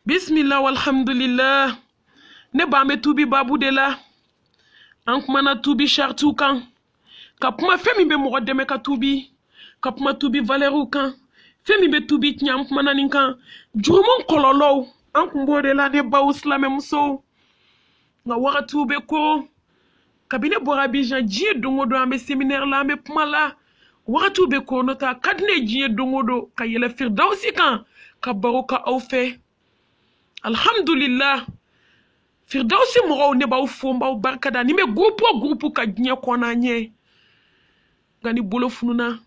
bismillah walhamdulillah ne b'an bɛ tubi babu de la an kumana tubi sharitiw kan ka kuma fɛn min bɛ mɔgɔ dɛmɛ ka tubi ka kuma tubi valɛriw kan fɛn min bɛ tubi tiɲɛ an kumana nin kan jurumu kɔlɔlɔw an kun b'o de la ne baw silamɛmusow nka wagatiw bɛ ko kabi ne bɔra abijan diɲɛ don o don an bɛ seminɛri la an bɛ kuma la wagatiw bɛ ko n'o t'a ka di ne diɲɛ don o don ka yɛlɛ firidawusi kan ka baro ka aw fɛ alihamudulila firidawusi mɔgɔw ne b'aw fo n b'aw barika da ni n bɛ gurupu o gurupu kan diɲɛ kɔnɔ an ɲɛ nka ni bolo fununa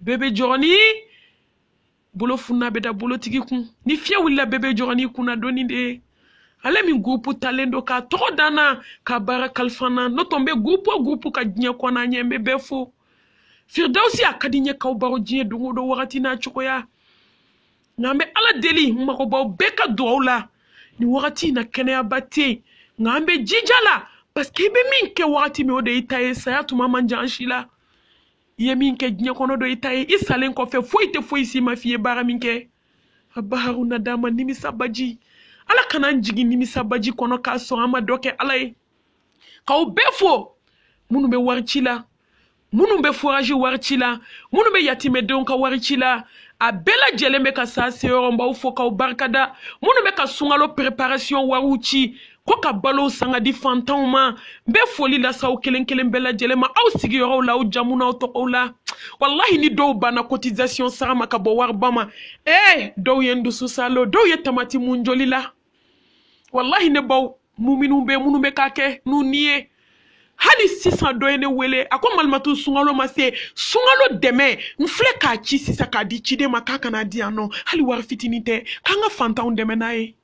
bɛɛ bɛ jɔrɔ ni bolo fununa bɛ da bolotigi kun ni fiɲɛ wulila bɛɛ bɛ jɔrɔ n'i kunna doni de ale min gurupu talen don k'a tɔgɔ da n na ka baara kalifa n na n'o tɛ n bɛ gurupu o gurupu kan diɲɛ kɔnɔ ɲɛ n bɛ bɛɛ fo firidawusi a ka di n ye k'aw baro diɲɛ don o don wagati n'a cogoya nka an bɛ ala deli n mago b'aw bɛɛ ka dugaw la nin wagati in na kɛnɛyaba tɛ yen nka an bɛ jija la paseke i bɛ min kɛ wagati min o de y'i ta ye saya tuma man jan si la i ye min kɛ diɲɛ kɔnɔ o de i ta ye i salen kɔfɛ foyi tɛ foyi si ma f'i ye baara min kɛ a baharu nadama nimisabaji ala kana n jigin nimisabaji kɔnɔ k'a sɔrɔ an ma dɔ kɛ ala ye k'aw bɛɛ fo minnu bɛ wari ci la minnu bɛ forazi wari ci la minnu bɛ yatimɛdenw ka wari ci la a bɛɛ lajɛlen bɛ ka s'a seyɔrɔ n b'aw fo k'aw barikada minnu bɛ ka sunkalo preparation wariw ci ko ka balow san k'a di fantanw ma n bɛ foli las'aw kelen kelen bɛɛ lajɛlen ma aw sigiyɔrɔw la aw jamu n'aw tɔgɔw la walahi ni dɔw banna cotisation sara ma ka bɔ wariba ma ee dɔw ye n dusu saalo dɔw ye tamati mun joli la walahi ne baw muminu bɛ minnu bɛ ka kɛ n'u ni ye hali sisan dɔ ye ne wele a ko malimatu sunkalo ma se sunkalo dɛmɛ n filɛ k'a ci sisan k'a di ciden ma k'a ka n'a di yan nɔ hali wari fitinin tɛ k'an ka fantanw dɛmɛ n'a ye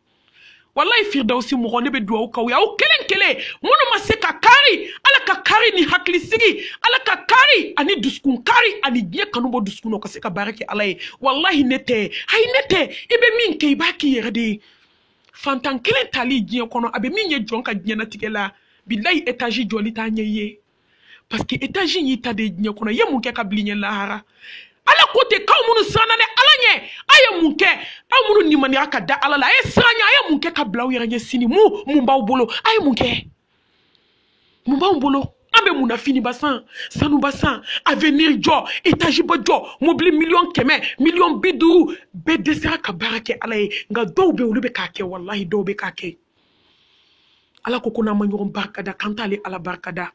walayi firidawusi mɔgɔ ne bɛ dugawu k'aw ye aw kelen kelen minnu ma se ka kari ala ka kari ni hakilisigi ala ka kari ani dusukun kari ani diɲɛ kanu bɔ dusukun na u ka se ka baara kɛ ala ye walayi ne tɛ ayi ne tɛ i bɛ min kɛ i b'a k'i yɛrɛ de ye fantan kelen tali diɲɛ kɔnɔ a bɛ min ye jɔn ka diɲɛnatigɛ la bilayi etazi jɔli t'a ɲɛ i ye parce que étage in y'i ta diɲɛ kɔnɔ i ye mun kɛ ka bil'i ɲɛ lahara ala ko ten k'aw minnu siranna ne ala ɲɛ a ye mun kɛ aw minnu limaniyara ka da ala la a ye siran ɲɛ a ye mun kɛ ka bila aw yɛrɛ ɲɛ sini mun mun b'aw bolo a ye mun kɛ mun b'anw bolo an bɛ mun na finiba san sanuba san avenir jɔ etaziba jɔ mobili miliyɔn kɛmɛ miliyɔn bi duuru bɛɛ dɛsɛra ka baara kɛ ala ye nka dɔw bɛ olu bɛ k'a kɛ walahi dɔw bɛ k'a kɛ ala ko ko n'an ma ɲɔgɔn barikada k'an t'ale ala barikada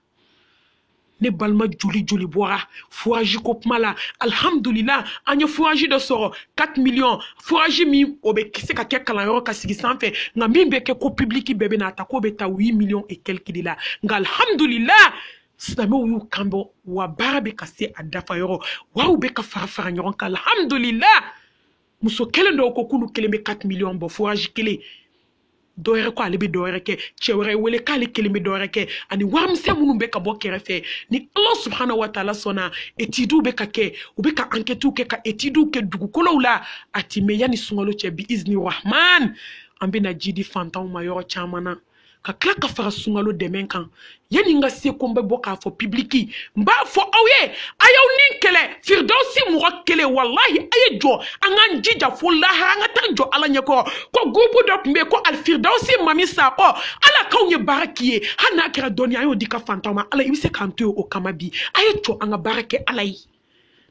ne balima joli joli bɔra forazi ko kuma la alihamudulila an ye forazi dɔ sɔrɔ 4 miliyɔn forazi min o bɛ se ka kɛ kalanyɔrɔ k'a sigi sanfɛ nka min bɛ kɛ ko pibiliki bɛɛ bɛn'a ta k'o bɛ ta 8 miliyɔn et quelques de la nka alihamudulila silamɛw y'u kanbɔ wa baara bɛ ka se a dafa yɔrɔ wa u bɛ ka fara fara ɲɔgɔn kan alihamudulila muso kelen dɔw ko k'olu kelen bɛ 4 miliyɔn bɔ forazi kelen dɔ wɛrɛ ko ale bɛ dɔ wɛrɛ kɛ cɛ wɛrɛ wele k'ale kelen bɛ dɔ wɛrɛ kɛ ani warimisɛn minnu bɛ ka bɔ kɛrɛfɛ ni ala subahana wa taala sɔnna etidiw bɛ ka kɛ u bɛ ka ankɛtiw kɛ ka etidiw kɛ dugukolow la a tɛ mɛn yanni sunkalo cɛ bi izini rahman an bɛna ji di fantanw ma yɔrɔ caman na ka tila k'a fara sunkalo dɛmɛ kan yanni n ka se ko n bɛ bɔ k'a fɔ pibiliki n b'a fɔ aw ye a y'aw ni kɛlɛ firidawusi mɔgɔ kelen walahi a ye jɔ an k'an jija fo lahara an ka taa jɔ ala ɲɛkɔrɔ ko gurupu dɔ tun bɛ yen ko alifiridawusi mami sakɔ ala k'anw ye baara k'i ye hali n'a kɛra dɔɔni an y'o d'i ka fantanw ma ala i bɛ se k'an to yen o kama bi a ye jɔ an ka baara kɛ ala ye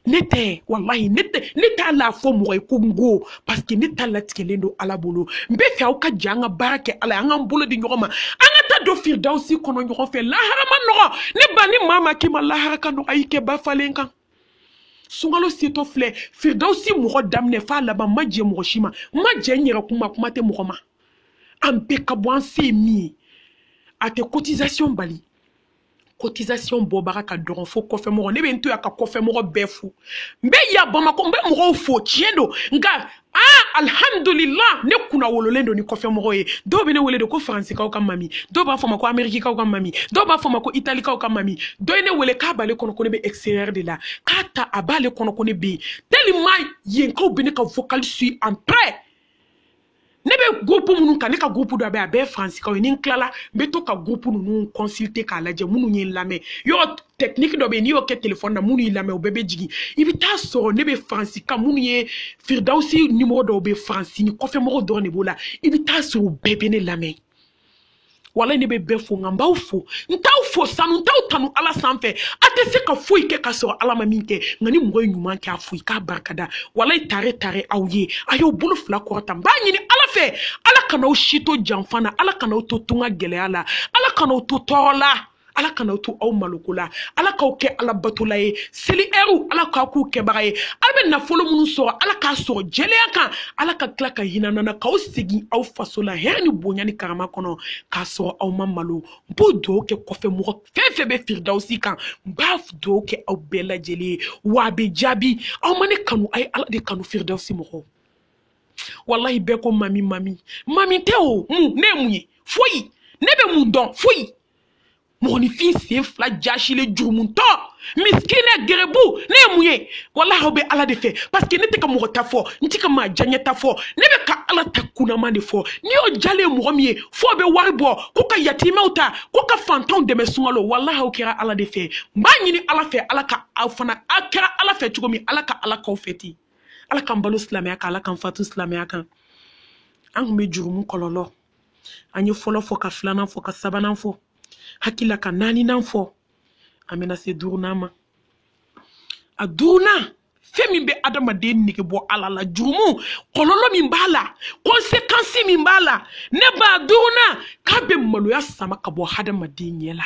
ne tɛ walahi ne tɛ ne t'ala fɔ mɔgɔ ye ko n ko paseke ne ta latigɛlen don ala bolo n b'a fɛ aw ka jɛ an ka baara kɛ ala ye an k'an bolo di ɲɔgɔn ma an ka taa don firidawusi kɔnɔ ɲɔgɔn fɛ lahara man nɔgɔ de ba ni maa ma k'i ma lahara ka nɔgɔ a y'i kɛ ba falen kan sunkalo setɔ filɛ firidawusi mɔgɔ daminɛ f'a laban n ma jɛ mɔgɔ si ma n ma jɛ n yɛrɛ kun ma kuma tɛ mɔgɔ ma an bɛɛ k'a bɔ an se ye min ye a tɛ cotisation bali cotisation bɔbaga ka dɔgɔ fo kɔfɛmɔgɔ ne bɛ n to yan ka kɔfɛmɔgɔ bɛɛ fo n bɛ yan bamakɔ n bɛ mɔgɔw fo tiɲɛ don nka aa alihamudulila ne kunnawololen don ni kɔfɛmɔgɔ ye dɔw bɛ ne wele de ko faransikaw ka mami dɔw b'a fɔ n ma ko amerikikaw ka mami dɔw b'a fɔ n ma ko italikaw ka mami dɔ ye ne wele k'a b'ale kɔnɔ ko ne bɛ extérieur de la k'a ta a b'ale kɔnɔ ko ne bɛ yen tellement yenkaw bɛ ne ka vocal suit en près ne bɛ gurupu minnu kan ne ka gurupu dɔ bɛ a bɛɛ faransikaw ye ni n tilala n bɛ to ka gurupu ninnu consulter k'a lajɛ minnu ye n lamɛn yɔrɔ technique dɔ bɛ yen n'i y'o kɛ telefɔni na minnu y'i lamɛn o bɛɛ bɛ jigin i bɛ t'a sɔrɔ ne bɛ faransikaw minnu ye firidawusi nimɔrɔ dɔw bɛ faransi ni kɔfɛmɔgɔ dɔrɔn de b'o la i bɛ t'a sɔrɔ o bɛɛ bɛ ne lamɛn walayi ne bɛ bɛɛ fo nka n b'aw fo n t'aw fo sanu n t'aw tanu ala sanfɛ a tɛ se ka foyi kɛ ka sɔrɔ ala ma min kɛ nka ni mɔgɔ ye ɲuman kɛ a fo i k'a barikada walayi tare tare aw ye a y'aw bolo fila kɔrɔta n b'a ɲini ala fɛ ala kan'aw si to janfa na ala kan'aw to tunga gɛlɛya la ala kan'aw to tɔɔrɔ la ala kana to aw maloko la ala k'aw kɛ ala batola ye seli ɛriw ala k'aw k'u kɛbaga ye aw bɛ nafolo minnu sɔrɔ ala k'a sɔrɔ jɛlenya kan ala ka tila ka hin'an na k'aw segin aw faso la hɛrɛ ni bonya ni karama kɔnɔ k'a sɔrɔ aw ma malo n b'o dugawu kɛ kɔfɛ mɔgɔ fɛn fɛn bɛ firidawusi kan n b'a dugawu kɛ aw bɛɛ lajɛlen ye wa a bɛ jaabi aw ma ne kanu a ye ala de kanu firidawusi mɔgɔw walahi bɛɛ ko mami mami mami tɛ o mun ne ye mun ye foyi ne bɛ mun dɔn foyi mɔgɔninfin sen fila jasilen jurumuntɔ misikinɛ gerebu ne ye mun ye walahi aw bɛ ala de fɛ paseke ne tɛ ka mɔgɔ ta fɔ n tɛ ka maa jaɲɛ ta fɔ ne bɛ ka ala ta kunnama de fɔ n'i y'o jalen mɔgɔ min ye fo a bɛ wari bɔ ko ka yatimɛw ta ko ka fantanw dɛmɛ sunkalo walahi aw kɛra ala de fɛ n b'a ɲini ala fɛ ala ka aw fana aw kɛra ala fɛ cogo min ala ka ala k'aw fɛ ten ala k'an balo silamɛya kan ala k'an fatu silamɛya kan an kun bɛ jurumu kɔlɔlɔ an ye fɔlɔ fɔ ka filanan fɔ ka sabanan fɔ hakili la ka naaninan fɔ an bɛna se duurunan ma a duurunan fɛn min bɛ adamaden nege bɔ ala la jurumu kɔlɔlɔ min b'a la konsekansi min b'a la ne ba a duurunan k'a bɛ maloya sama ka bɔ hadamaden ɲɛ la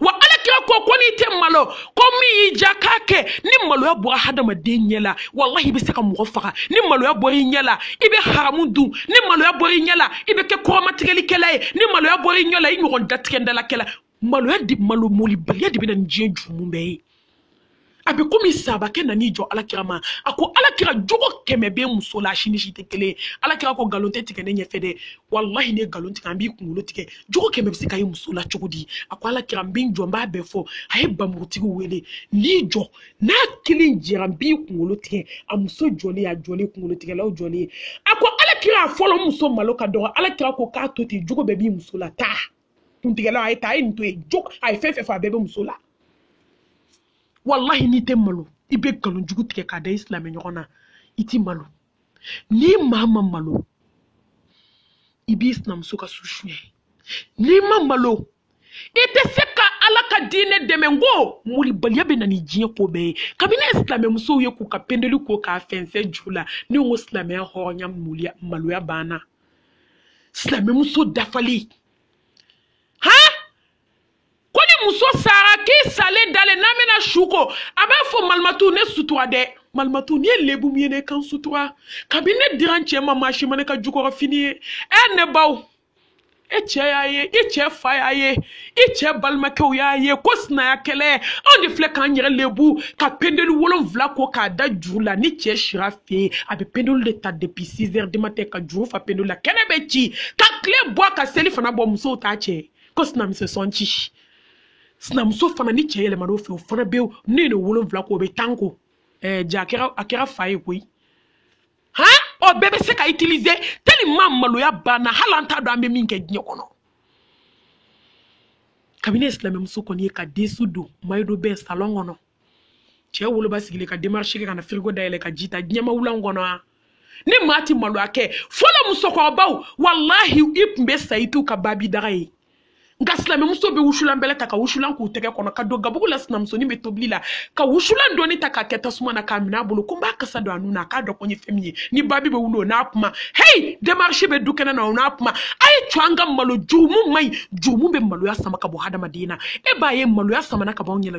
wa alakira ko ko n'i tɛ malo ko min y'i ja k'a kɛ ni maloya bɔra hadamaden ɲɛ la walahi i bɛ se ka mɔgɔ faga ni maloya bɔra i ɲɛ la i bɛ haramu dun ni maloya bɔra i ɲɛ la i bɛ kɛ kɔrɔmatigɛlikɛla ye ni maloya bɔra i ɲɛ la i ɲɔgɔn datigɛndalakɛla maloya de malo molibaliya de bɛ na ni diɲɛ jurumu bɛɛ ye a bɛ komi sabakɛ nan'i jɔ alakira ma a ko alakira jogo kɛmɛ bɛ muso la si ni si tɛ kelen ye alakira ko nkalon tɛ tigɛ ne ɲɛfɛ dɛ walahi n'e nkalon tigɛ an b'i kunkolo tigɛ jogo kɛmɛ bɛ se ka ye muso la cogo di a ko alakira n bɛ n jɔ n b'a bɛɛ fɔ a ye bamurutigi wele n'i jɔ n'a kelen jɛra n b'i kunkolo tigɛ a muso jɔlen a jɔlen kunkolo tigɛlaw jɔlen a ko alakira fɔlɔ muso malo ka dɔgɔ alakira ko k'a to ten jogo bɛɛ b'i muso la taa kuntigɛlaw a ye taa a ye nin to yen jogo a ye fɛn fɛn fɔ a bɛɛ bɛ muso la walahi n'i tɛ malo i bɛ nkalon jugu tigɛ k'a da i silamɛ ɲɔgɔn na i ti malo n'i maa ma malo i b'i sinamuso ka su suɲɛ n'i ma malo i tɛ se ka ala ka diinɛ dɛmɛ n ko molibaliya bɛ na ni diɲɛ ko bɛɛ ye kabini ne ye silamɛmusow ye k'u ka pendeli ko k'a fɛnsɛn juru la ne ko silamɛya hɔrɔnya maloya banna silamɛmuso dafalen han ko ni muso sara k'i salen dalen n'a bɛna su ko a b'a fɔ malimatu ne sutura dɛ malimatu n'i ye lebu min ye ne kan sutura kabini ne dira n cɛ ma maa si ma ne ka jukɔrɔfini ye ɛ ne baw e cɛ y'a ye i cɛ fa y'a ye i cɛ balimakɛw y'a ye ko sinaya kɛlɛ anw de filɛ k'an yɛrɛ lebu ka pendeli wolonfila ko k'a da juru la ni cɛ sira fɛ a bɛ pendeli de ta depuis 6 heures du matin ka juru fa pendeli la kɛnɛ bɛ ci ka tile bɔ ka selifana bɔ musow t'a cɛ ko sinamuso sɔn ci sinamuso fana ni cɛ yɛlɛmana o fɛ o fana bɛ n'e ye wolonwula ko o bɛ tan ko ɛɛ ja a kɛra a kɛra fa ye koyi han o bɛɛ bɛ se ka utiliser tellement maloya banna hali an t'a dɔn an bɛ min kɛ diɲɛ kɔnɔ kabini ne ye silamɛmuso kɔni ye ka den su don mayido bɛɛ salon kɔnɔ cɛ woloba sigilen ka démarche kɛ ka na firigo dayɛlɛ ka ji ta diɲɛma wulan kɔnɔ ani maa ti maloya kɛ fɔlɔ musokɔrɔbaw walahi i tun bɛ sa i t'u ka babi daga ye nka silamɛmuso bɛ wusulan bɛlɛ ta ka wusulan k'u tɛgɛ kɔnɔ ka don gabugu la sinamusonin bɛ tobili la ka wusulan dɔɔni ta k'a kɛ tasuma na k'a minɛ a bolo ko n b'a kasa don a nun na k'a dɔn ko n ye fɛn min ye ni babi bɛ wuli o n'a kuma heyi démarche bɛ du kɛnɛ na o n'a kuma a ye to an ka malo jurumu man ɲi jurumu bɛ maloya sama ka bɔ hadamaden na e b'a ye maloya samana ka bɔ anw ɲɛ na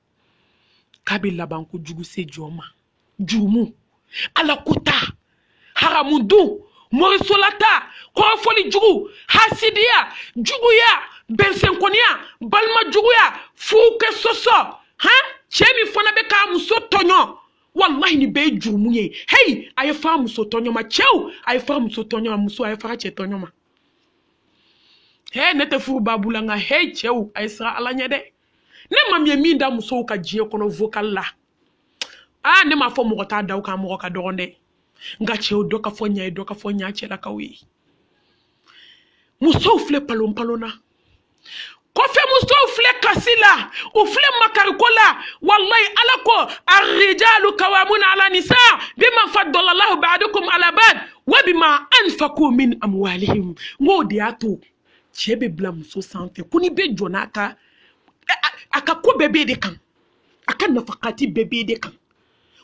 k'a bɛ laban ko jugu se jɔn ma jurumu ala ko ta haramu dun morisolata kɔrɔfɔli jugu hasidiya juguya bɛnsɛnkɔniya balima juguya furukɛ sɔsɔ han cɛ min fana bɛ k'a muso tɔɲɔ walahi nin bɛɛ ye jurumu ye heyi a ye fara muso tɔɲɔ ma cɛw a ye fara muso tɔɲɔ ma muso a ye fara cɛ tɔɲɔ ma he ne tɛ furu babu la nka he cɛw a ye siran ala ɲɛ dɛ ne ma min ye min da musow kan diɲɛ kɔnɔ vocal la aa ne m'a fɔ mɔgɔ t'a da o kan mɔgɔ ka dɔgɔn dɛ nka cɛw dɔ ka fɔ ɲa ye dɔ ka fɔ ɲa cɛlakaw ye musow filɛ palonpalon na kɔfɛ musow filɛ kasi la u filɛ makariko la walayi ala ko arrijalu kawamuna ala nisa bima fadalalahu baadakum ala baad wa bima anfaku min amwalihim n k'o de y'a to cɛ bɛ bila muso sanfɛ ko ni bɛ jɔ n'a ka a ka ko bɛɛ b'e de kan a ka nafakati bɛɛ b'e de kan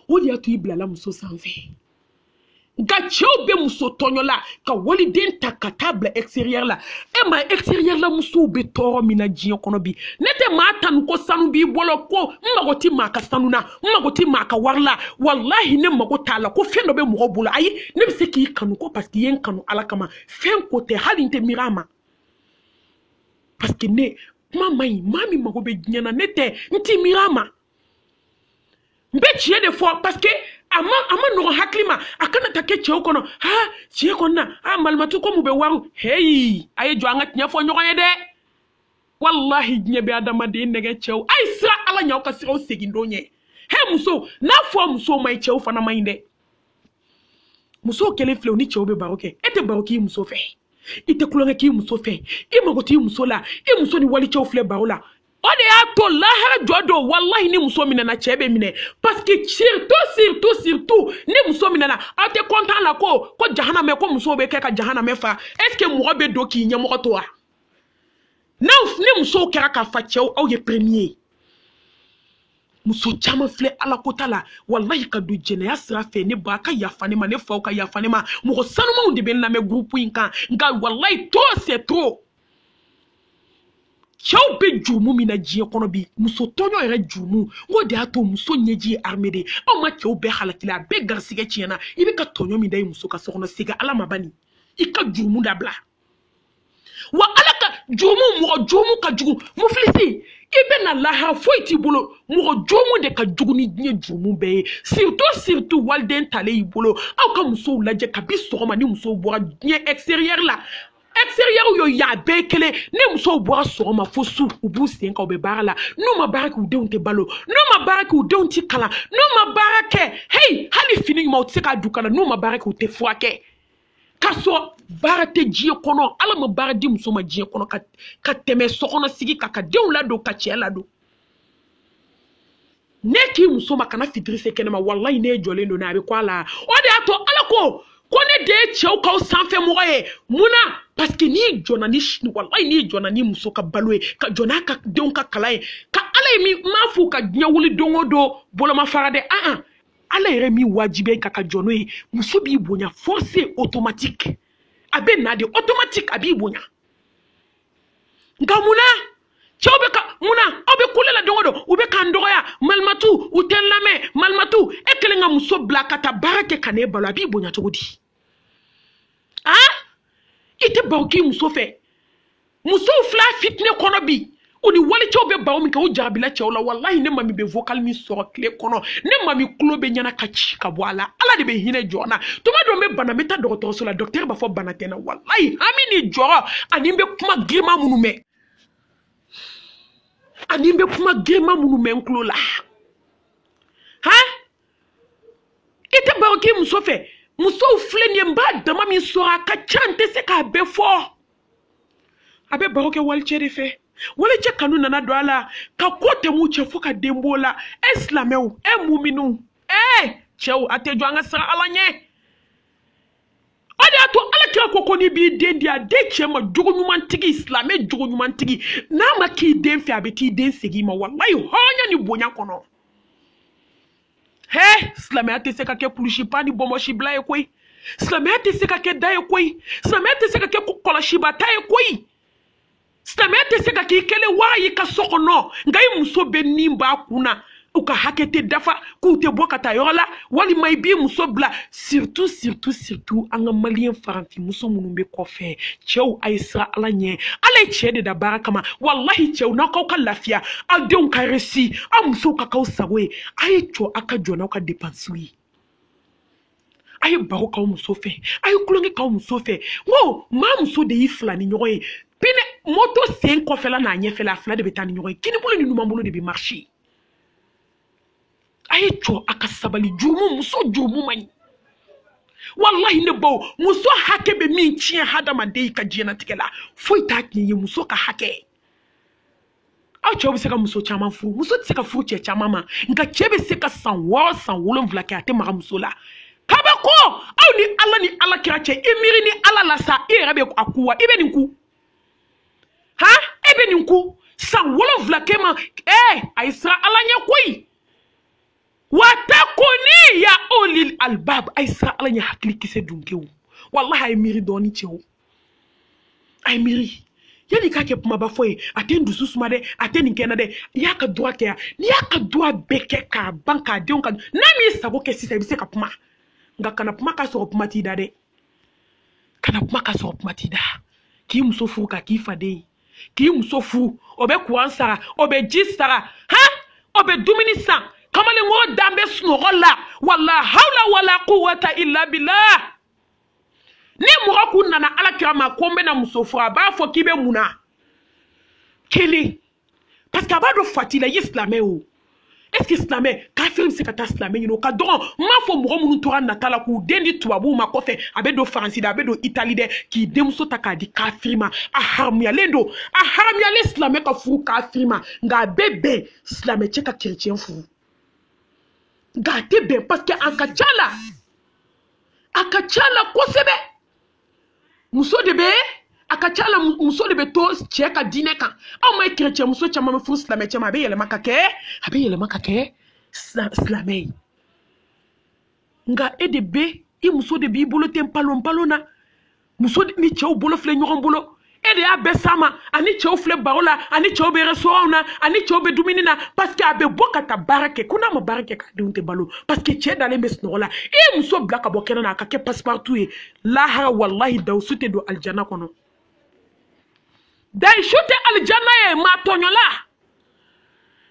o de y'a to i bilala muso sanfɛ nka cɛw bɛ muso tɔɲɔ la ka waliden ta ka taa bila extérieur la e ma extérieur la musow bɛ tɔɔrɔ min na diɲɛ kɔnɔ bi ne tɛ maa tanu ko sanu b'i bolo ko n mago tɛ maa ka sanu na n mago tɛ maa ka wari la walahi ne mago t'a la ko fɛn dɔ bɛ mɔgɔ bolo ayi ne bɛ se k'i kanu ko parce que i ye n kanu ala kama fɛn ko tɛ hali n tɛ miiri a ma parce que ne kuma man ɲi maa min mago bɛ diɲɛ na ne tɛ n tɛ miiri a ma n bɛ tiɲɛ de fɔ parce que a ma a ma nɔgɔn hakili ma a kana taa kɛ cɛw kɔnɔ ha tiɲɛ kɔni na a malimatu ko mun bɛ wari heyi a ye jɔ an ka tiɲɛ fɔ ɲɔgɔn ye dɛ walahi diɲɛ bɛ adamaden nɛgɛn cɛw a ye siran ala ɲɛ aw ka siran aw segin don ɲɛ he muso n'a fɔ muso man ɲi cɛw fana man ɲi dɛ musow kelen filɛ u ni cɛw bɛ baro kɛ e tɛ baro k'i muso fɛ i tɛ tulonkɛ k'i muso fɛ i mago t'i muso la i muso ni walicɛw filɛ baro la o de y'a to lahara jɔ don walahi ni muso minɛna cɛ bɛ minɛ parce que surtout surtout surtout ni muso minɛna aw tɛ content la ko ko jahanamɛ ko musow bɛ kɛ ka jahanamɛ fa est ce que mɔgɔ bɛ don k'i ɲɛmɔgɔ to wa. n'aw ni musow kɛra k'a fa cɛw aw ye premier ye muso caman filɛ ala ko ta la walayi ka don jɛnɛya sira fɛ ne ba ka yafa ne ma ne faw ka yafa ne ma mɔgɔ sanumanw de bɛ n lamɛn gurupu in kan nka walayi trop c'est trop cɛw bɛ jurumu min na diɲɛ kɔnɔ bi muso tɔɲɔ yɛrɛ jurumu ko de y'a to muso ɲɛji ye arme de aw ma cɛw bɛɛ halakila a bɛɛ garisigɛ tiɲɛna i bɛ ka tɔɲɔ min da i muso kan so kɔnɔ segin ala ma bani i ka jurumu dabila wa ala ka jurumu mɔgɔ jurumu ka jugu mufilisi i bɛ na lahara foyi t'i bolo mɔgɔ jurumu de ka jugu ni diɲɛ jurumu bɛɛ ye surtout surtout waliden talen y'i bolo aw ka musow lajɛ kabi sɔgɔma ni musow bɔra diɲɛ extérieur la extérieur yo yan bɛɛ kelen ni musow bɔra sɔgɔma fo su u b'u sen kan u bɛ baara la n'u ma baara kɛ u denw tɛ balo n'u ma baara kɛ u denw tɛ kalan n'u ma baara kɛ heyi hali fini ɲuman u tɛ se k'a don u kan na n'u ma baara kɛ u tɛ furakɛ k'a sɔrɔ baara tɛ diɲɛ kɔnɔ ala ma baara di muso ma diɲɛ kɔnɔ ka ka tɛmɛ sokɔnɔ sigi kan ka denw ladon ka cɛ ladon ne k'i muso ma kana fitiri se kɛnɛma walayi ne jɔlen don n'a bɛ ko a la o de y'a to ala ko ko ne de ye cɛw k'aw sanfɛ mɔgɔ ye mun na paseke n'i jɔna ni walayi n'i jɔna ni muso ka balo ye ka jɔ n'a ka denw ka kalan ye ka ala ye min m'a f'u ka diɲɛ wuli don o don bolomafara dɛ an an ala yɛrɛ min wajibiya i kan ka jɔ n'o ye muso b'i bonya forcé automatique a bɛ na de automatique a b'i bonya nka mun na cɛw bɛ ka mun na aw bɛ kule la don o don u bɛ k'an dɔgɔya malimatu u tɛ n lamɛn malimatu e kɛlen ka muso bila ka taa baara kɛ ka n'e balo a b'i bonya cogo di a i tɛ baro k'i muso fɛ musow filɛ fitinɛ kɔnɔ bi u ni walicɛw bɛ baro min kɛ u jarabila cɛw la walahi ne mami bɛ vocal min sɔrɔ tile kɔnɔ ne mami tulo bɛ ɲini ka ci ka bɔ a la ala de bɛ hinɛ jɔn na tuma dɔ n bɛ bana n bɛ taa dɔgɔtɔrɔso la dɔkitɛri b'a fɔ bana tɛ n na walahi hami ni jɔrɔ ani n bɛ kuma girinman minnu mɛn ani n bɛ kuma girinman minnu mɛn n tulo la han i tɛ baro k'i muso fɛ musow filɛ nin ye n b'a dama min sɔrɔ a ka ca n tɛ se k'a bɛɛ fɔ a bɛ baro kɛ walicɛ de fɛ walicɛ kanu nana don a la ka ko tɛm'u cɛ fo ka den b'o la e silamɛw e muminw ee cɛw a tɛ jɔ an ka siran ala ɲɛ o de y'a to alakira ko ko n'i b'i den di a di cɛ ma jogo ɲumantigi silamɛ jogo ɲumantigi n'a ma k'i den fɛ a bɛ t'i den segin i ma walayi hɔrɔnya ni bonya kɔnɔ hɛ silamɛya tɛ se ka kɛ kulusi pan ni bɔnbɔsi bila ye koyi silamɛya tɛ se ka kɛ da ye koyi silamɛya tɛ se ka kɛ kɔlɔsiba ta ye koyi silamɛya tɛ se ka k'i kɛlen wara y'i ka so kɔnɔ nka i muso bɛ nin b'a kun na u ka hakɛ tɛ dafa k'u tɛ bɔ ka taa yɔrɔ la walima i b'i muso bila surtout surtout surtout an ka maliyɛn faranfinmuso minnu bɛ kɔfɛ cɛw a ye siran ala ɲɛ ala ye cɛ de da baara kama walahi cɛw n'aw k'aw ka lafiya aw denw ka réussir aw musow ka k'aw sago ye a ye jɔ aw ka jɔ n'aw ka depansiw ye a ye baro k'aw muso fɛ a ye tulonkɛ k'aw muso fɛ n ko maa muso de y'i filaninɲɔgɔn ye pinɛ moto sen kɔfɛla n'a ɲɛfɛla a fila de bɛ taa ni ɲɔgɔn ye kinibolo ni numanbolo de bɛ marcher a ye jɔ a ka sabali jurumu muso jurumu man ɲi walahi ne bawo muso hakɛ bɛ min tiɲɛ hadamaden ka diɲɛnatigɛ la foyi t'a tiɲɛ ye muso ka hakɛ aw cɛw bɛ se ka muso caman furu muso tɛ se ka furu cɛ caman ma nka cɛ bɛ se ka san wɔɔrɔ san wolonwula kɛ a tɛ maga muso la kabako aw ni ala ni ala kira cɛ i miiri ni ala la sa i yɛrɛ bɛ a ku wa i bɛ nin ku han e bɛ nin ku san wolonwula kɛ ma ee a ye siran ala ɲɛ koyi wattaquni ya ulil albab a ye siran ala ɲɛ hakili kisɛ dunkew walahi a ye miiri dɔɔni cɛw a ye miiri yanni k'a kɛ kumaba fɔ ye a tɛ n dusu suma dɛ a tɛ nin kɛnɛ dɛ i y'a ka duwa kɛ yan n'i y'a ka duwa bɛɛ kɛ k'a ban k'a denw ka n'a m'i sago kɛ sisan i bɛ se ka kuma nka kana kuma k'a sɔrɔ kuma t'i da dɛ kana kuma k'a sɔrɔ kuma t'i da k'i muso furu ka k'i faden ye k'i muso furu o bɛ kuran sara o bɛ ji sara han o bɛ dumuni san kamalenkɔrɔ dalen bɛ sunɔgɔ la wala hawla wala quwwata illa billah ni mɔgɔ tun nana ala kira ma ko n bɛna muso furu a b'a fɔ k'i bɛ mun na kelen parce que a b'a dɔn fati la i ye silamɛ o est ce que silamɛ kafiri bɛ se ka taa silamɛ ɲini o ka dɔgɔn n m'a fɔ mɔgɔ minnu tora nata la k'u den di tubabuw ma kɔfɛ a bɛ don faransi dɛ a bɛ don itali dɛ k'i denmuso ta k'a di kafiri ma a haramuyalen don a haramuyalen silamɛ ka furu kafiri ma nka a bɛ bɛn silamɛ cɛ ka kerecɛn furu nka a tɛ bɛn parce que a ka ca la a ka ca la kosɛbɛ muso de bɛ a ka ca la muso de bɛ to cɛ ka diinɛ kan aw m'a ye kerecɛnmuso caman bɛ furu silamɛ cɛ ma a bɛ yɛlɛma ka kɛ a bɛ yɛlɛma ka kɛ silamɛ ye nka e de bɛ i muso de b'i bolo ten palon palon na muso ni cɛw bolo filɛ ɲɔgɔn bolo e de y'a bɛɛ sama ani cɛw filɛ baro la ani cɛw bɛ restaurantw na ani cɛw bɛ dumuni na parce que a bɛ bɔ ka taa baara kɛ ko n'a ma baara kɛ k'a denw tɛ balo parce que cɛ dalen bɛ sunɔgɔ la e ye muso bila ka bɔ kɛnɛ na a ka kɛ passe-partout ye lahara walahi dawusu tɛ don alijana kɔnɔ dayisu tɛ alijana ye maa tɔɲɔla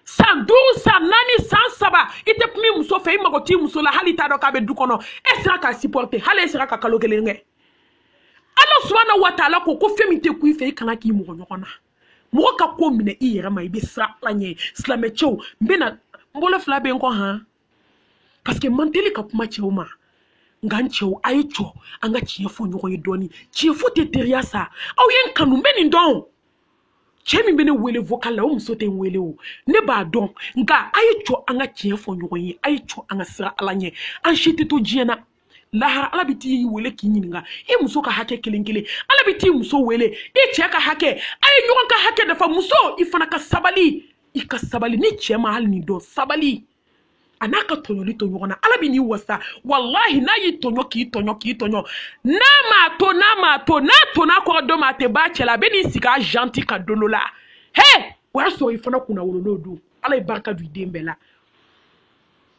san duuru san naani san saba i tɛ kuma i muso fɛ i mago t'i muso la hali i t'a dɔn k'a bɛ du kɔnɔ e sera k'a supporte hali e sera ka kalo kelen kɛ ala subahana wa taala ko ko fɛn min tɛ kun i fɛ i kana k'i mɔgɔ ɲɔgɔn na mɔgɔ ka ko minɛ i yɛrɛ ma i bɛ siran ala ɲɛ silamɛcɛw n bɛna n bolo fila bɛ n kɔ han paseke n man teli ka kuma cɛw ma nka n cɛw a ye jɔ an ka tiɲɛ fɔ ɲɔgɔn ye dɔɔni tiɲɛ fɔ tɛ teriya sa aw ye n kanu n bɛ nin dɔn cɛ min bɛ ne wele vocal la o muso tɛ n wele o ne b'a dɔn nka a ye jɔ an ka tiɲɛ fɔ ɲɔgɔn ye a ye jɔ an ka siran ala ɲɛ an si tɛ to diɲɛ na lahara ala bɛ t'i wele k'i ɲininka i muso ka hakɛ kelen kelen ala bɛ t'i muso wele i cɛ ka hakɛ a ye ɲɔgɔn ka hakɛ dafa muso i fana ka sabali i ka sabali n'i cɛ ma hali nin dɔn sabali a n'a ka tɔɲɔli to ɲɔgɔn na ala bɛ n'i wasa walahi n'a y'i tɔɲɔ k'i tɔɲɔ k'i tɔɲɔ n'a m'a to n'a m'a to n'a to n'a kɔrɔ dɔ m'a tɛ b'a cɛ la a bɛ n'i sigi a janti ka don dɔ la he o y'a sɔrɔ i fana kunnawololen don ala ye barika don i den bɛɛ la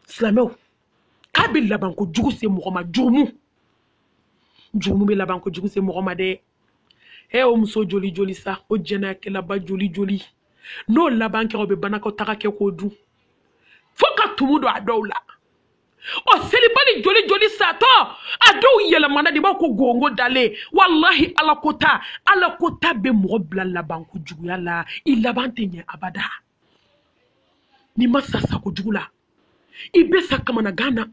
silamɛw k'a bɛ labanko jugu se mɔgɔ ma jurumu jurumu bɛ labanko jugu se mɔgɔ ma dɛ he o muso joli joli sa o jɛnɛyakɛlaba joli joli n'o laban kɛra o bɛ banakɔtaga kɛ k'o dun fo ka tumu don a dɔw la o selibali joli joli satɔ a dɔw yɛlɛmana de b'a ko gongo dalen walahi ala ko ta ala ko ta bɛ mɔgɔ bila labanko juguya la i laban tɛ ɲɛ abada n'i ma sa sako jugu la i bɛ sa kamanagan na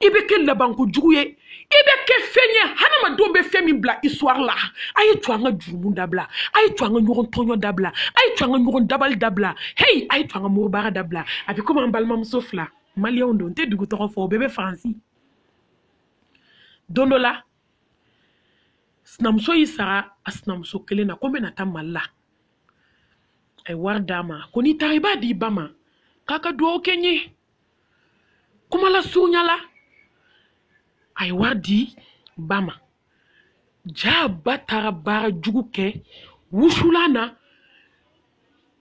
i bɛ kɛ labanko jugu ye i bɛ kɛ fɛn ye hadamadenw bɛ fɛn min bila histoire la a ye to an ka jurumu dabila a ye to an ka ɲɔgɔn tɔɲɔ dabila a ye to an ka ɲɔgɔn dabali dabila heyi a ye to an ka moribaara dabila a bɛ komi an balimamuso fila maliyɛnw don n tɛ dugu tɔgɔ fɔ u bɛɛ bɛ faransi don dɔ la sinamuso y'i sara a sinamuso kelen na ko n bɛna taa mali la a ye wari d'a ma ko n'i taara i b'a di i ba ma k'a ka dugawu kɛ n ye kuma lasurunya la a ye wari di ba ma jaa ba taara baara jugu kɛ wusulan na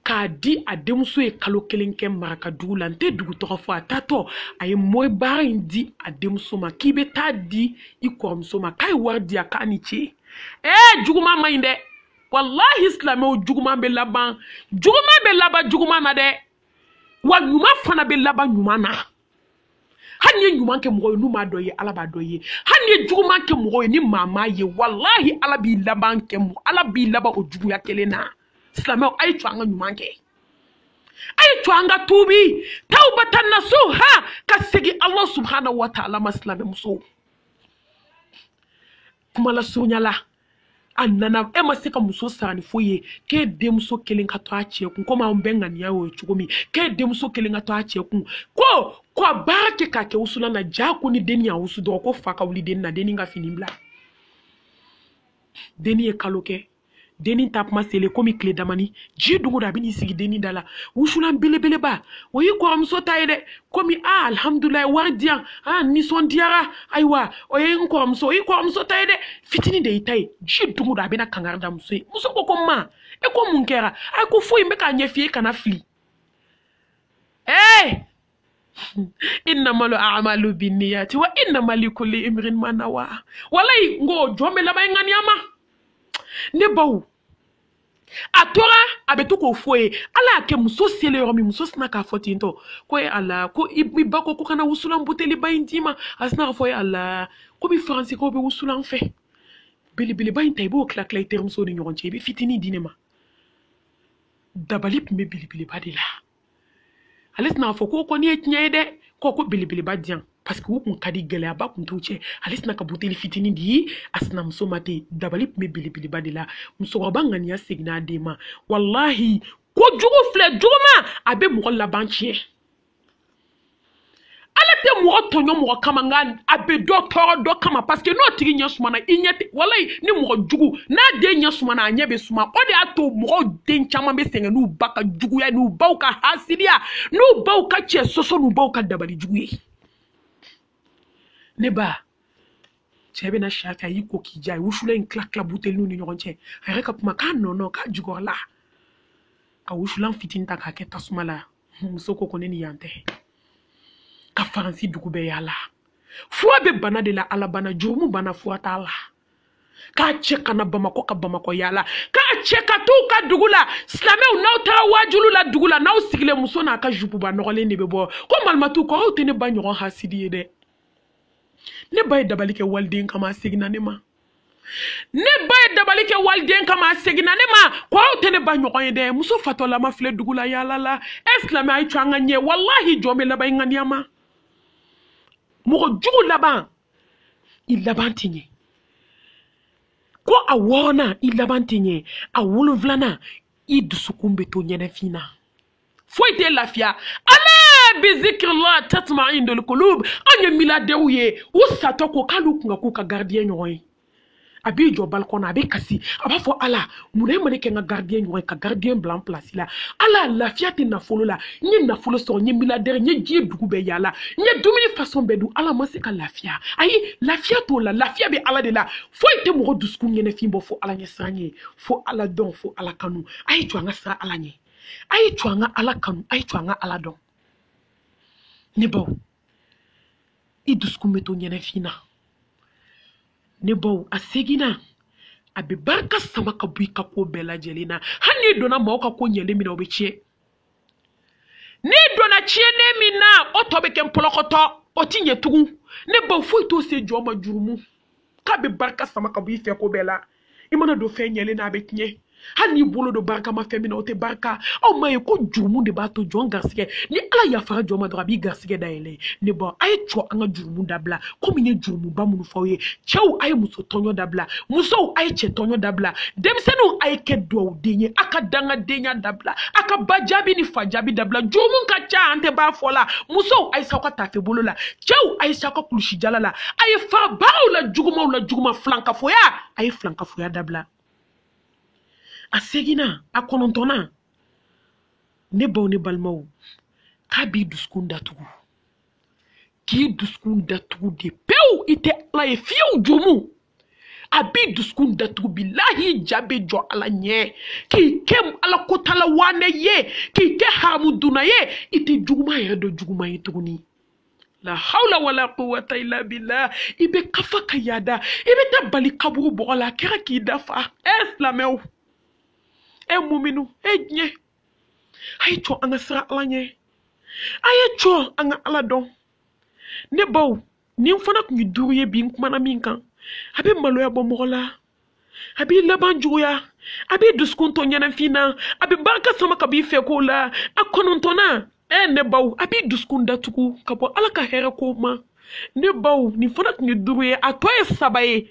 k'a di a denmuso ye kalo kelen kɛ maraka dugu la n tɛ dugu tɔgɔ fɔ a taatɔ a ye moribaara in di a denmuso ma k'i bɛ t'a di i kɔrɔmuso ma k'a ye wari di a k'a ni ce ee juguman man ɲi dɛ walahi silamɛw juguman bɛ laban juguman bɛ laban juguman na dɛ wa ɲuman fana bɛ laban ɲuman na hali n'i ye ɲuman kɛ mɔgɔ ye n'u m'a dɔn i ye ala b'a dɔn i ye hali n'i ye juguman kɛ mɔgɔ ye ni maa m'a ye walahi ala b'i laban o juguya kelen na silamɛw a ye to an ka ɲuman kɛ a ye to an ka tuubi tawbatan nasuha ka segin ala subhanahu wa taala ma silamɛmusow kuma lasurunya la a nana e ma se ka muso sara ni foyi ye k'e denmuso kelen ka to a cɛ kun komi anw bɛɛ ŋaniya y'o ye cogo min k'e denmuso kelen ka to a cɛ kun ko ko a baara kɛ k'a kɛ wusulan na ja ko ni denni y'a wusu dɔrɔn ko fa ka wuli denni na denni ka fini bila denni ye kalo kɛ denni taa kuma selen komi tile damani ji dugu da a bɛ n'i sigi denni da la wusulan belebeleba o y'i kɔrɔmuso ta ye dɛ komi a ah, alhamdulilayi wari di yan a ah, nisɔndiyara ayiwa o ye n kɔrɔmuso o y'i kɔrɔmuso ta ye dɛ fitini de y'i ta ye ji dugu don a bɛna kangari da muso ye muso ko ko ma e ko mun kɛra a ko foyi n bɛ k'a ɲɛf'i ye kana fili ee innamal amalu binniyati wa innama likulli imrin ma nawa walayi n ko jɔn bɛ laban ŋaniya ma ne baw a tora a bɛ to k'o f'a ye ala y'a kɛ muso selen yɔrɔ min muso sinna k'a fɔ ten tɔ ko ye ala ko i ba ko ko ka na wusulan buteliba in d'i ma a sinna k'a fɔ ye ala ko bi faransikaw bɛ wusulan fɛ belebeleba in ta i b'o tila tila i terimusow ni ɲɔgɔn cɛ i bɛ fitinin di ne ma dabali tun bɛ belebeleba de la ale sinna k'a fɔ k'o kɔni ye tiɲɛ ye dɛ ko ko belebeleba di yan paseke u kun ka di gɛlɛyaba kun t'u cɛ ale sinna ka buteli fitinin di a sinamuso ma ten dabali tun bɛ belebeleba de la musokɔrɔba ŋaniya seginna a den ma walahi ko jugu filɛ juguma a bɛ mɔgɔ laban tiɲɛ ala tɛ mɔgɔ tɔɲɔ mɔgɔ kama nka a bɛ dɔ tɔɔrɔ dɔ kama paseke n'o tigi ɲɛ sumana i ɲɛ tɛ walayi ni mɔgɔ jugu n'a den ɲɛ sumana a ɲɛ bɛ suma o de y'a to mɔgɔw den caman bɛ sɛgɛn n'u ba ka juguya n'u baw ka hasidiya n'u baw ka cɛ sɔsɔ n'u baw ka dabali jugu ye ne ba cɛ bɛna si a fɛ a y'i ko k'i ja a ye wusulan in tila tila buteliw ni ɲɔgɔn cɛ a yɛrɛ ka kuma k'a nɔnɔ k'a jukɔrɔla ka wusulan fitinin ta k'a kɛ tasuma la muso ko ko ne ni yan tɛ ka faransi dugu bɛɛ yaala fura bɛ bana de la ala bana jurumu bana fura t'a la k'a cɛ ka na bamakɔ ka bamakɔ yaala k'a cɛ ka t'u ka dugu la silamɛw n'aw taara waajulu la dugu la n'aw sigilen muso n'a ka jupuba nɔgɔlen de bɛ bɔ ko malimatu ko aw tɛ ne ba ɲɔgɔn hasidi ye dɛ ne ba ye dabali kɛ waliden kama a seginna ne ma ne ba ye dabali kɛ waliden kama a seginna ne ma ko aw tɛ ne ba ɲɔgɔn ye dɛ muso fatɔlama filɛ dugu la yaala la e silamɛ a ye to an ka ɲɛ walahi jɔn bɛ laban i ŋaniya ma mɔgɔ jugu laban i laban tɛ ɲɛ ko a wɔɔrɔnan i laban tɛ ɲɛ a wolonfilanan i dusukun bɛ to ɲɛnɛfin na foyi tɛ lafiya ala bi zikrillah tatma'innul qulub an ye miladɛrɛw ye u satɔ ko k'olu kun ka k'u ka garidiɲɛ ɲɔgɔn ye a b'i jɔ balikɔn na a bɛ kasi a b'a fɔ ala mun na e ma ne kɛ n ka garidiɲɛ ɲɔgɔn ye ka garidiɲɛ bila n pilasi la ala lafiya tɛ nafolo la n ye nafolo sɔrɔ n ye miladɛrɛ n ye diɲɛ dugu bɛɛ yaala n ye dumuni fasɔn bɛɛ dun ala n ma se ka lafiya ayi lafiya t'o la lafiya bɛ ala de la foyi tɛ mɔgɔ dusukun ɲɛnɛfin bɔ fo ala ɲɛsiranɲɛ fo ala dɔn fo ala kanu a ye jɔ an ka siran ala ɲɛ a ye to an ka ala kanu a ye to an ka ala dɔn ne baw i dusukun bɛ to ɲɛnɛfin na ne baw a seginnan a bɛ barika sama ka bɔ i ka ko bɛɛ lajɛlen na hali n'i donna maaw ka ko ɲɛlen min na o bɛ tiɲɛ n'i donna tiɲɛnen min na o tɔ bɛ kɛ npɔlɔkɔtɔ o ti ɲɛ tugun ne baw foyi t'o se jɔn ma jurumu k'a bɛ barika sama ka bɔ i fɛ ko bɛɛ la i mana don fɛn ɲɛlen na a bɛ tiɲɛ hali n'i bolo don barikama fɛn min na o tɛ barika aw ma ye ko jurumu de b'a to jɔn garisigɛ ni ala yafara jɔn ma dɔrɔn a b'i garisigɛ dayɛlɛ ne baw a ye cɔ an ka jurumu dabila komi n ye jurumuba minnu fɔ aw ye cɛw a ye muso tɔɲɔ dabila musow a ye cɛ tɔɲɔ dabila denmisɛnninw a ye kɛ duwawuden ye a ka dangadenya dabila a ka ba jaabi ni fa jaabi dabila jurumu ka ca an tɛ b'a fɔ la musow a ye sa aw ka tafe bolo la cɛw a ye s'aw ka kulusi jala la a ye fara baaraw la jugumaw la juguma filankafoya a ye filankafoya dabila a seginnan a kɔnɔntɔnnan ne baw ne balimaw k'a b'i dusukun datugu k'i dusukun datugu de pewu i tɛ ala ye fiyewu jurumu a b'i dusukun datugu bilahi ja bɛ jɔ ala ɲɛ k'i kɛ ala kotala waanɛ ye k'i kɛ haramu dunna ye i tɛ juguman yɛrɛ dɔn juguman ye tuguni la hawla wala quwwata illa billah i bɛ ka fa ka yaada i bɛ taa bali kaburu bɔgɔ la a kɛra k'i da fa ɛ silamɛw ɛ muminu ɛ diɲɛ a ye cɔ an ka siran ala ɲɛ a ye cɔ an ka ala dɔn ne baw nin fana tun ye duuru ye bi n kumana min kan a bɛ maloya bɔ mɔgɔ la a b'i laban juguya a b'i dusukun to ɲɛnafin na a bɛ barika sama ka b'i fɛ ko la a kɔnɔntɔnnan ɛ ne baw a b'i dusukun datugu ka bɔ ala ka hɛrɛ ko ma ne baw nin fana tun ye duuru ye a tɔ ye saba ye